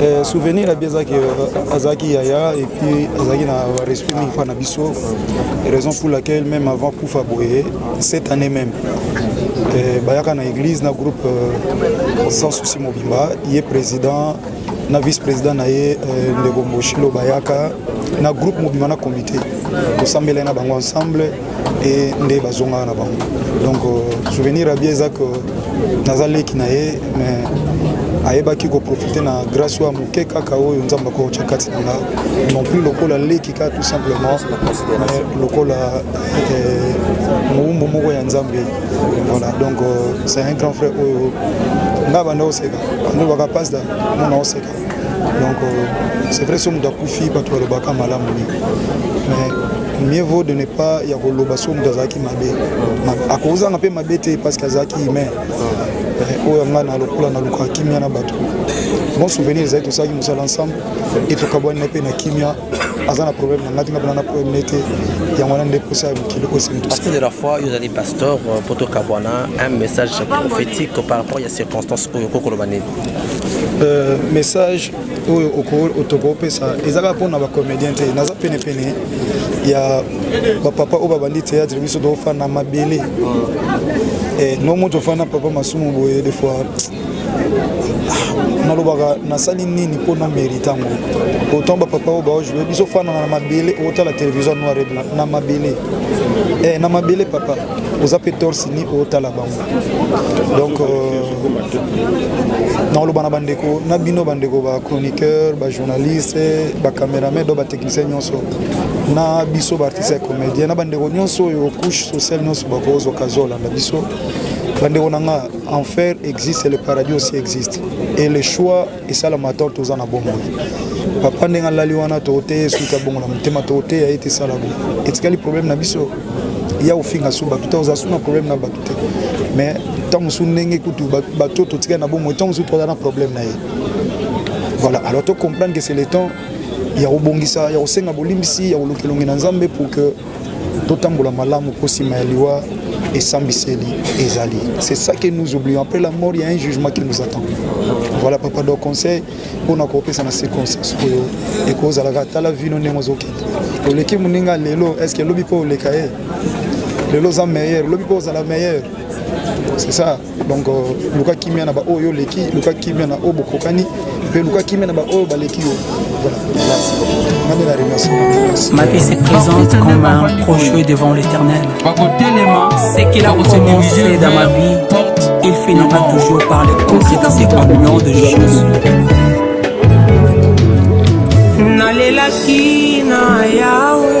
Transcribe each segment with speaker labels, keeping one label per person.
Speaker 1: Eh,
Speaker 2: souvenir na bi ezalaki euh, azalaki yaya et puis azalaki na respect mingi mpo na biso raison pour laquelle même avant kufa boye cette année même eh, bayaka na église na groupe euh, sans souci mobimba ye président na vice-président na ye euh, ndeko mboshilo bayaka na groupe mobimba na comité tosambelai na bango ensemble e nde bazongaka na bango donc euh, souvenir ya bie eza ke naza leki na ye mais ayebaki koprofite na grâce oyo ya moke kaka oyo nzambe akokotya kati na nga non plus lokola leki kaka tout simplement lokola euh, mowumbu moko ya nzambe voilà donc euh, c'est un grand frère oyo nga banda oseka andobaka pasda mona oseka donc euh, c'est vrai soki moto akufi bato balobaka malamu mingi mais mieux vaut de ne pas ya koloba soki moto azalaki mabe akozanga mpe mabe te parce que azalaki humain euh, oyo yanga na lokola na lukaka kimia na bato bon souvenir ezali tosalaki mosala ensemble e tokabwani na mpe na kimia aza na problème na ngai tinga mpena na problème ne te yango wana nde posa ya mokili osenpartie de la fois yo
Speaker 1: ozali pasteur mpo euh, tokabwana un message prophétique par rapport ya circonstance oyo kokoloba nini Euh, message
Speaker 2: oyo tokoki opesa eza kaka mpona bacomédien te naza penepene ya bapapa oyo babandi théâtre biso tofanda mabele eh, no moto ofanda papa masumu boye des fois nalobaka nasali nini mpo na merite yango autant bapapa oyo baojoue biso ofanana na mabele otala télévision noir et blanc na mabele eh, na mabele papa oza mpe torse ni otala bango donc euh, naoloba na bandeko na bino bandeko bachroniqueur bajournaliste bacameraman do batechnicien nyonso na biso baartiste ya comédien na bandeko nyonso oyo couche sociale nyonso bakozwa kazi olanda biso bandeko na nga enfer existe le paradis aussi existe et le choix esalama to toza na bomoi papa ndenge alali wana tokoteya ye suki abongo na motema tokoteya ye te esala bo etikali problème na biso ya kofinga su bato te oza su na problème na bato te mais ntango mosusu ndenge kutu bato totikali na bomoi ntango mosusu toza na problème na ye voilà alors to comprendre que c'est le temps ya kobongisa ya kosenga bolimbisi ya kolukelongi na nzambe pour que totambola malamu mpo nsima ya liwa esambiseli ezali c'est ça que nous oublions après la mort il y a un jugement qui nous attend voilà papa donc conseil mpona kopesa na circonstance oyo ekozalaka tala vino ndenge ozokende oleki moninga lelo est ce que lobi mpo oleka ye lelo oza meilleur lobi mpo ozala meilleur c'est ça donc euh, luka kimia na baoyo oleki luka kimia na oyo bokokani mpe luka kimia na baoyo baleki yo Ma vie
Speaker 3: se présente comme un projet devant l'éternel. Ce qu'il a commencé dans ma vie, il finira toujours par le concrétiser au nom de Jésus. nalelaki na yawe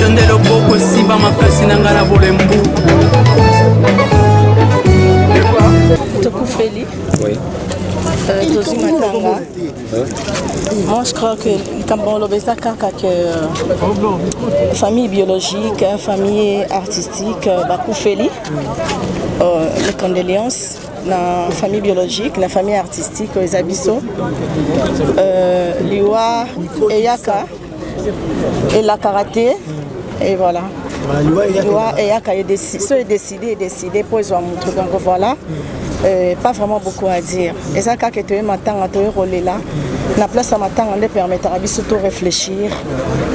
Speaker 3: yo nde loboko esimba makasi na ngai na bolembu
Speaker 4: tokufeli
Speaker 1: Euh,
Speaker 4: tozwi matanga moi je crois que likambo oloba eza kaka que euh, famille biologique famille artistique euh, bakufeli mes condoléances na famille biologique na famille artistique oyo eza biso euh, liwa eyaka elakaka te et voilà liwa eyaka so edeside edeside mpo ezwa motu donc voilà euh, pas vraiment beaucoup à dire eza kaka etoye matanga toye kolela na place ya matanga nde epermetaka biso to réfléchir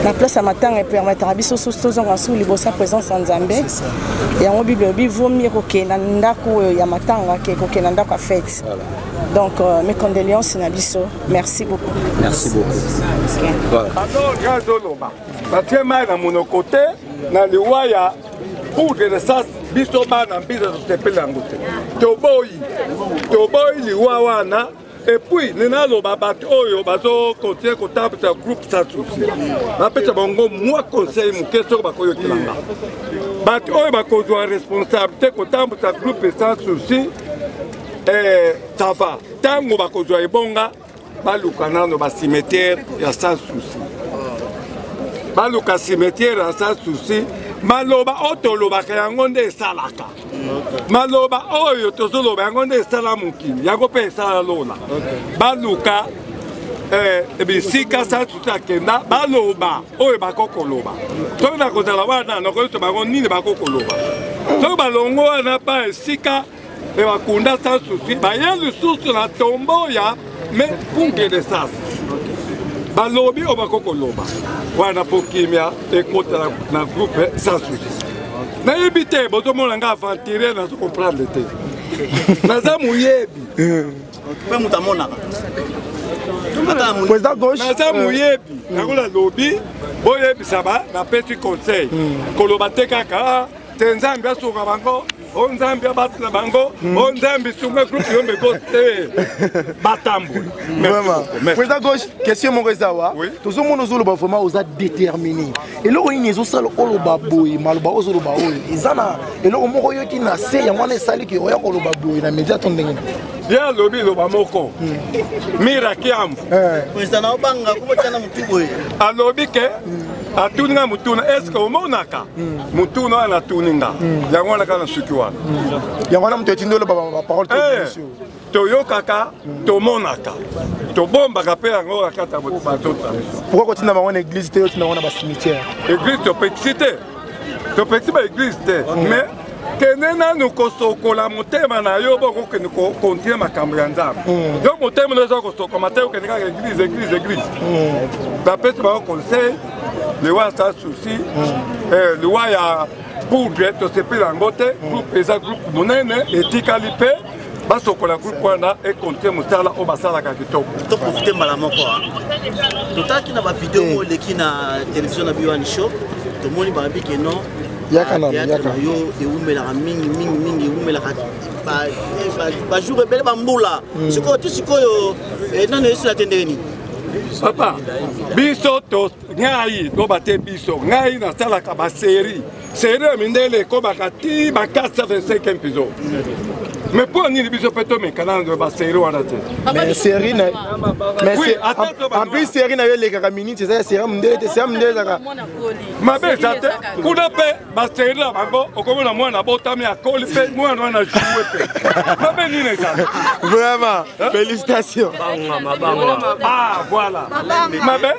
Speaker 4: na place ya matanga epermetaka biso susu tozonga susu liboso ya présence ya nzambe yango bible elobi vaut mieux kokende na ndako oyo ya matanga ke kokende na ndako ya fete donc euh, mes condoléances na biso merci beaucoup merci
Speaker 5: beaucouazoloba
Speaker 6: batie mai na monoko te na liwa ya poudre de sas biso bana mbiza tosepeli yango te toboyi toboyi liwa wana Et puis, nena loba bato oyo bazo continuer ko tabisa groupe sans souci. Ba pesa bango moi conseil muke soko ba koyo kilanga. Bato oyo ba ko zwa responsabilité ko tabisa groupe sans souci. Eh, ça va. Tango ba ko zwa ebonga ba luka nano ba cimetière ya sans souci. Ba luka cimetière ya sans souci. Maloba oyo tolobaka yango nde esalaka. maloba oyo tozoloba yango nde esala mokili yango mpe esala lola baluka eh, bisika sasusu akenda baloba oyo bakoki koloba soki nakozala wana nakoyesa bango nini bakoki koloba soki balongo wana ba esika ebakunda sasusu baye lisusu na tombo ya mais pour que de sas balobi oyo bako koloba wana mpo kimia ekota na groupe sans souci nayebi te bozomona nga aventurier nazo comprendre te naza moyebi mpe
Speaker 5: moto amonaka
Speaker 6: président gauche naza moyebi yango nalobi boyebisa ba napesi conseil koloba te kaka te nzambe asunga bango o nzambe abatela bango o nzambe sunga groupe yo meko te batamboli président
Speaker 5: gauche question moko eza wa tozomona ozoloba vraiment oza déterminé eloko nini ezosala oloba boye maloba ozoloba oyo eza na eloko moko oyoki na se yango wana esali ke oya koloba boye na média to ndenge ye alobi loba
Speaker 6: moko mirakiambo
Speaker 5: alobi ke
Speaker 6: atuni ngai motuna eske omonaka motuna wana natuni nga yango wana kaka na suki wana yango wana moto
Speaker 5: etindi oloba baparole eh,
Speaker 6: toyokaka tomonaka tobombaka mpe yango kakata batota pourkoi kotinda
Speaker 5: bango na église te otinda bango na bacimetière église topekisi
Speaker 6: te topekisi baéglise te mais kende nanu kosokola motema na yo boko kende kokontinue makambo ya nzambe hmm. yo motema na oza kosokoma te okende kaka eglise eglise eglise hmm. bapesi bango conseil liwa ya sa souci hmm. eh, liwa ya bourge tosepeli yango te groupe eza groupe monene etikali mpe basokola groupe wana ekonte mosala oyo basalaka kitoko toprofite mbala moko
Speaker 7: totalaki na bavideo oyo eleki na televizio na biwani show tomoni balobi ke non yaka na
Speaker 5: yo ewumelaka
Speaker 7: mingi mingi mingi ewumelaka bajour eh, ebele bambula hmm. sikoyo ti sikoyo eh, nano esila te ndenge nini papa
Speaker 6: biso ngai loba te biso ngai nasalaka baserie serie ya mindele ekobaka ti ba 425 episo mais mpo nini biso mpe tomekana na baserie wana te en
Speaker 5: plus serie na yo elekaka minute eza ya serie ya mindele te serie ya mindele ezaka mabe eza
Speaker 6: te kuna mpe baserede na bango okomona mwana abotami akoli mpe mwana wana ajue mpe mabe nini ezali vraiment
Speaker 5: félicitation ah
Speaker 6: voilà mabe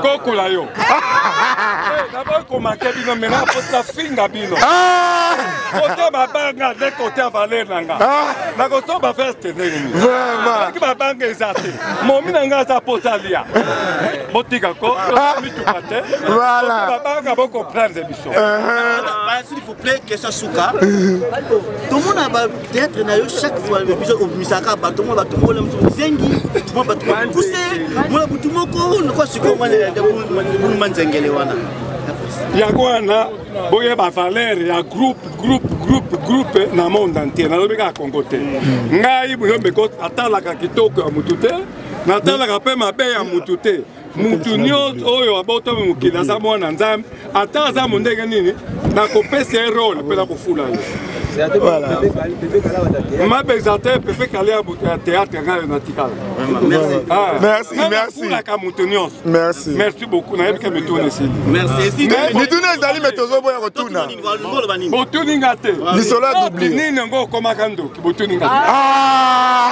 Speaker 6: kokola yo naboyi komake bino mena apota finga bino ah! kote babanga nde kote ya valeur na nga ah! nakoso baveste ndenge nini soki babanga eza te momi na nga aza pota lia botika ko ah! voilà babanga bocomprendre biso s'il
Speaker 7: vous plaît question suka tomona bateatre na yo chaque fois biso obimisaka bato mwa bato mola mosusu ozengi mwa bato mokuse mwa butu moko nokwa sikoyo mwanelebuluma nzengele wana yango
Speaker 6: wana boyeba valeur ya groupe groupe groupe groupe na monde entier nalobi kaka kongo te ngai boyombe atalaka kitoko ya motu te natalaka mpe mabe ya motu te moto nyonso oyo abotami mokili aza mwana nzambe ata aza mondenge nini nakopesa ye role mpe nakofula ye mabe eza te pepe kale ya moto ya théâtre ngai natikala nafulaka ah. moto nyonso merci beaucoup nayebika mituna esilimituna
Speaker 5: ezali me tozoboya kotuna botuni
Speaker 6: nga te lisolo ya dublinini
Speaker 5: yango okomaka
Speaker 6: ndoki botuni nga te ah.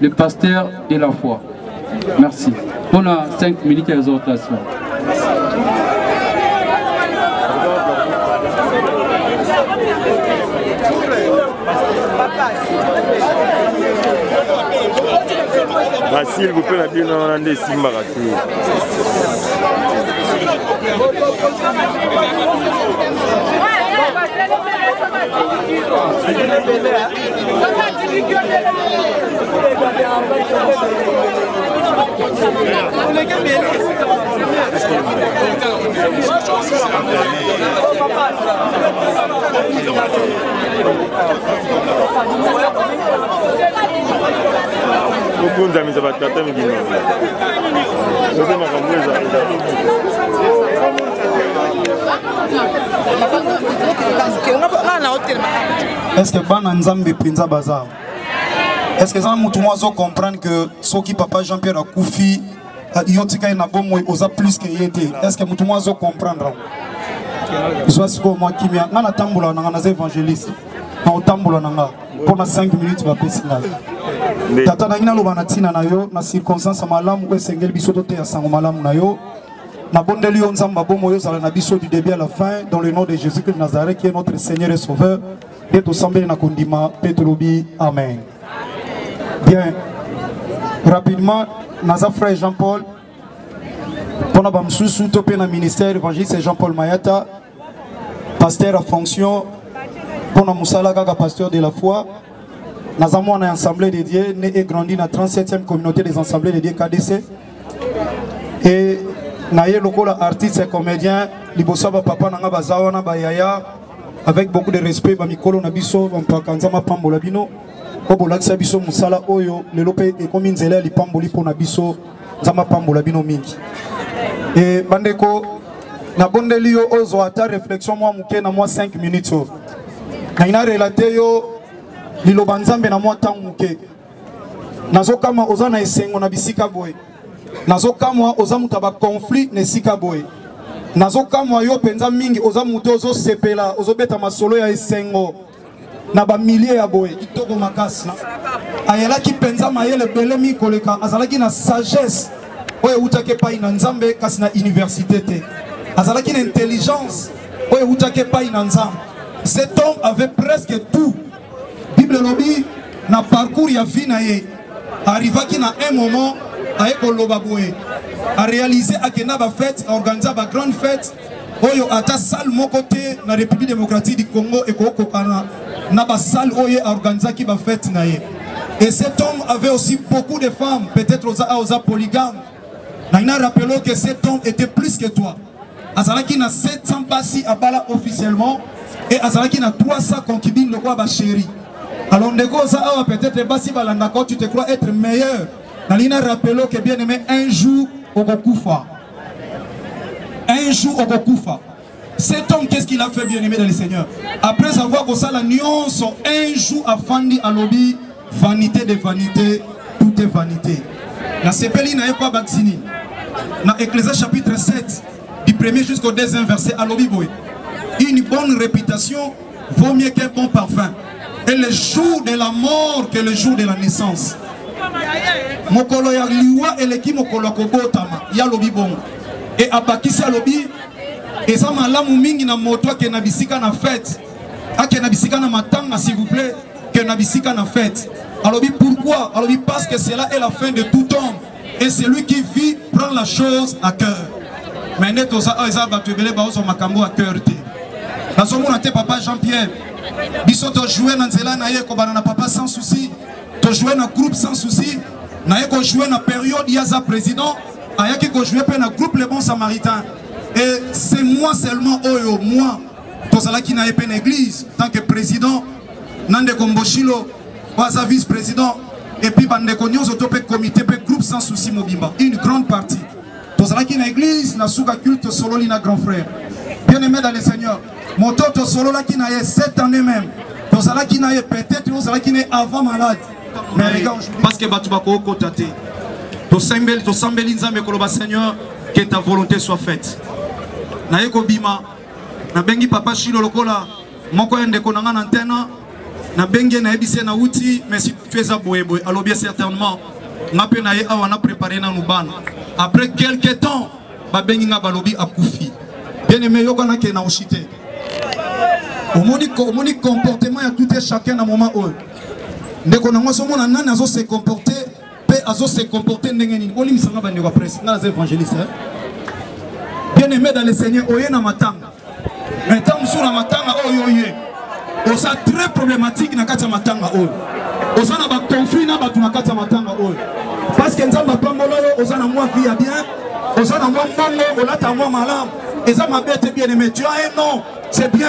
Speaker 8: le pasteur de la foi merci On a 5 minutes ya exhortation
Speaker 9: basile bope na bino wana nde esimbaka te Thank you. kokunzamisa bato ata mibima ote makambo ezala
Speaker 2: nga na hotel Est-ce que bana Nzambe penza bazar? Est-ce que ça mutu moi zo comprendre que soki papa Jean-Pierre akufi euh, yo tika na bomo oza plus que yete. Est-ce que mutu moi zo comprendre? Zwa siko moi kimia nga na tambola na nga na évangéliste. Na otambola na nga pona 5 minutes ba pesi nga. Tata na ngina loba na tina na yo na circonstance malamu esengeli biso to te ya sango malamu na yo. nabondeli yo nzambe abomo yo ozala na biso du début à la fin dans le nom de jésus christ nazareth qui est notre seigneur et sauveur nde tosambeli na kondima mpe tolobi amen bien rapidement naza frère jean paul mpona bamosusu to mpe na ministère évangéliste jean paul mayata pasteur ya fonction mpo na mosala kaka pasteur de la foi naza mwana ya assemblée de dieu ne e grandi na 37e communauté des assemblées de dieu kdc e naye lokola artiste comédien liboso ya bapapa na ngai baza wana bayaya avec beaucoup de respect bamikolo na biso bampaka nzambe apambola bino mpo bolakisa biso mosala oyo lelo mpe ekomi nzela ya lipamboli mpo na biso nzambe apambola bino mingi e bandeko nabondeli yo ozwa ata réflexion mwa moke na mwa 5 minutes oyo nangi na relate yo liloba nzambe na mwa ntango moke nazokama oza na esengo na bisika boye nazokamwa oza moto ya baconflit na esika boye nazokamwa yo mpenza mingi oza moto ozosepela ozobeta masolo ya esengo na bamilie ya boye kitoko makasi ayelaki mpenza mayele ebelemi koleka azalaki na sagesse oyo ewutaki epai na nzambe kasi na université te azalaki na intelligence oyo ewutaki epai na nzambe cet homme avait presque tout bible elobi na parcours ya vie na ye arrivaki na un moment aye koloba boye arealize akenda bafete aorganiza bagrande fete oyo ata salle moko te na république démocratique du congo ekokokana na basalle oyo ye aorganisaki bafete na ye et cet homme avait aussi beaucoup de femmes peut-être oza a oza polygame nangi na rappelo que cet homme était plus que toi azalaki na 700 basi abala officiellement et azalaki na 300 concubines lokola bachéri alors ndeko oza awa peut-être basi balandaka tu te crois être meilleur nalingi na rappelo que bien aimé un jour okokufa un jour okokufa cet homme qu'est-ce qu'il a fait bien aimé dans le seigneur après avoir kosala nyonso un jour afandi alobi vanité de vanité tout est vanité nasepeli na ye mpo abakisi nini na ecclésia chapitre 7 du premier jusqu'au deuxième verset alobi boye une bonne réputation vaut mieux qu'un bon parfum et le jour de la mort que le jour de la naissance mokolo ya liwa eleki mokolo ya kobotama ye alobi bongo e abakisi alobi eza malamu mingi na moto akende na bisika na fete akende na bisika na matanga s'il vous plaît que na bisika na fete alobi pourquoi alobi parce que cela est la fin de tout homme et celui qui vit prend la chose à cœur mais nde toza oyo eza bato ebele baozwa makambo à cœur te nazomona te papa jean pierre biso tojoue na nzela na ye ekobana na papa sans souci tojoue na groupe sans souci naye kojoue na période ye aza président ayaki kojoue mpe na groupe le bon samaritain et c'est moi seulement oyo moi tozalaki na ye mpe na église tant que président na ndeko mboshilo oyo aza vice président epuis bandeko nyonso to mpe comité mpe groupe sans souci mobimba une grande partie tozalaki na église na suka culte tosololi na grand frère bien aimé dans le seigneur moto tosololaki na ye cette année même tozalaki na ye peut-être ozalaki na ye avant malade mais les gars parce que bato bakokota te tosembeli tosambeli nzambe koloba seigneur que ta volonté soit faite naye kobima nabengi papa shilo lokola moko ya ndeko na nga na ntena nabengi ye nayebisi ye nauti mais situe eza boyeboye alobi ye certainement nga mpe na ye awa na prépare nanu bana après quelque temps babengi nga balobi akufi bien aimé yokana ke na oshi te omoni omoni comportement ya tout chacun na moment oyo ndeko nango azomona nani azo se comporter pe azo se comporter ndenge nini olimbisa nga bandeko ya presse nga naza évangéliste hein? bien aimé dans le seigneur oye na matanga mais ntango mosusu na matanga oyo oye oza très problématique na kati ya matanga oyo oza na baconflit na bato na kati ya matanga oyo parce que nzambe apambola yo oza na mwa vie ya bien oza na mwa mbongo olata mwa malamu eza mabe te bien aimé tu as un nom c'est bien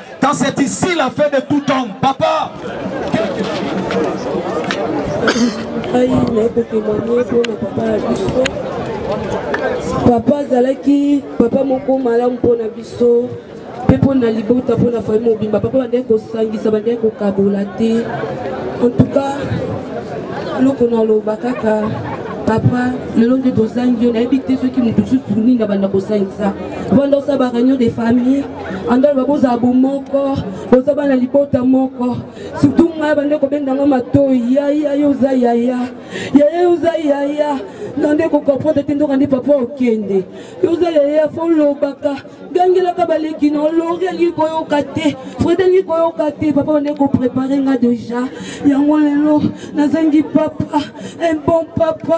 Speaker 2: Quand c'est ici la fin de tout homme,
Speaker 10: papa. Aïe, mais pour témoigner pour le papa à biso. Papa azalaki papa moko malamu mpo na biso mpe mpo na libota mpo na famille mobimba papa bandaki kosangisa bandaki kokabola te en tout cas eloko naloba kaka papa lelo nde tozangi yo nayebi te soki moto susu nini abanda kosangisa banda osala bareunion de famille andaloba bozala bomoko boza bana libota moko surtout ngai bande kobenda nga matoi yaya yo oza yaya yaya yo oza yaya nande kokomprendre te ndoka nde papa okende yo oza yaya fo olobaka gangelaka baleki na olori alingi koyoka te frede alingi koyoka te papa bande koprepare nga deja yango lelo nazangi papa un bon papa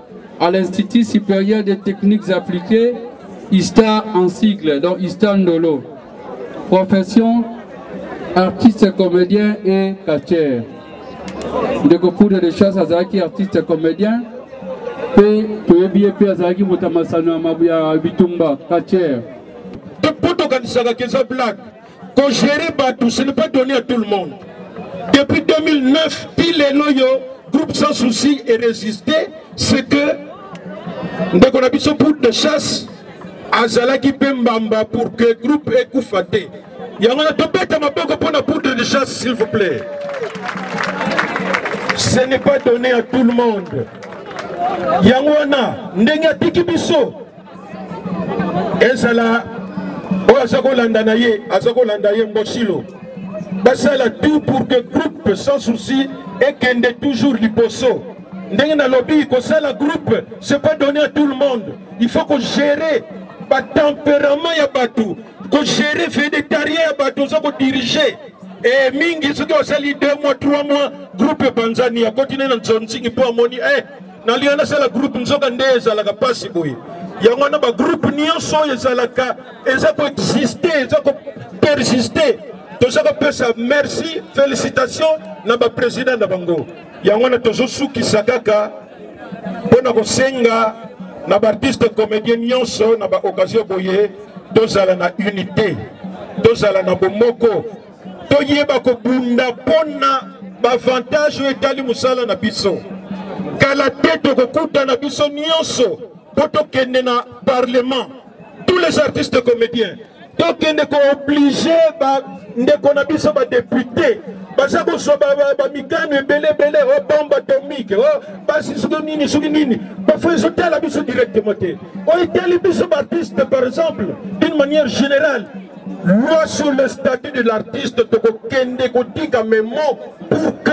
Speaker 8: à l'Institut supérieur des techniques appliquées, ISTA en sigle, donc ISTA Ndolo. Profession, artiste comédien et catcheur. De Poudre de Chasse Azaki, artiste comédien, et toyebi ye mpe azalaki moto ya masano ya bitumba catcheur.
Speaker 11: tokanisa que eza blague Ko gérer Batou, ce n'est pas donné à tout le monde. Depuis 2009, pile et loyo, groupe sans souci et résister, c'est que ndeko na biso poule de chasse azalaki mpe mbamba pour que groupe ekufa te yango na tobeta maboko mpo na poudre de chasse s'il vous plaît ce n'est pas donné à tout le monde yango wana ndenge atiki biso ezala oyo aza kolanda na ye aza kolanda ye mbosilo basala tout pour que groupe sans souci ekende toujours liboso ndenge nalobi kosala groupe c'est pas donné à tout le monde il faut kogérer batempérament ya bato kogérer védétarien ya bato oza kodirige e mingi soki osali 2 mois 3 mois groupe epanzani akoti nde na nzonzingi mpo amoni e eh, nalinga nasala groupe nzoka nde ezalaka mpasi boye yango wana bagroupe nyonso oyo ezalaka eza koexiste eza kopersiste toza kopesa merci félicitation na baprésident na bango yango wana tozosukisa kaka mpo na kosenga na baartiste comédien nyonso na baoccasion boye tozala na unité tozala na bomoko toyeba kobunda mpo na bavantage oyo etali mosala na biso kala te tokokutana biso nyonso mpo tokende na parlement tous les artistes comédiens tokende kooblige bandeko na biso badepute baza kozwa bamikano ebele ebele o oh, bombe atomike o oh, basi soki nini soki nini bafo ezotala biso directement te oyo etali biso baartiste par exemple d'une manière générale loi sur le statut de l'artiste tokokende kotika memo pour que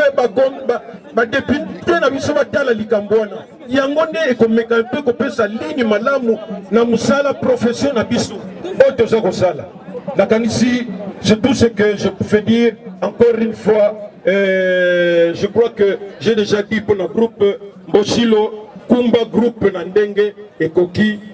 Speaker 11: badepute na biso batala likambo wana yango nde ekomeka mpe kopesa lini malamu na mosala profession na biso oyo toza kosala nakanisi c'est tout ce que je fais dire encore une fois euh, je crois que j'ai déjà dit pour le groupe mboshilo kumba groupe na ndenge ekoki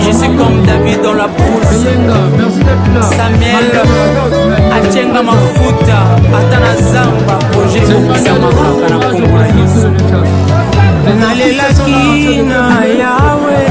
Speaker 3: Je suis comme David dans la brousse Samuel Achenga Mafuta Atana Zamba Projet Obisa Makaka na Kongo na Yesu Nalelaki na Yahweh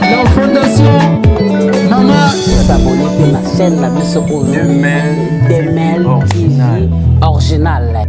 Speaker 12: La fondation Mama S'abonner pe na chaîne na biso oyo Demel Demel Original Original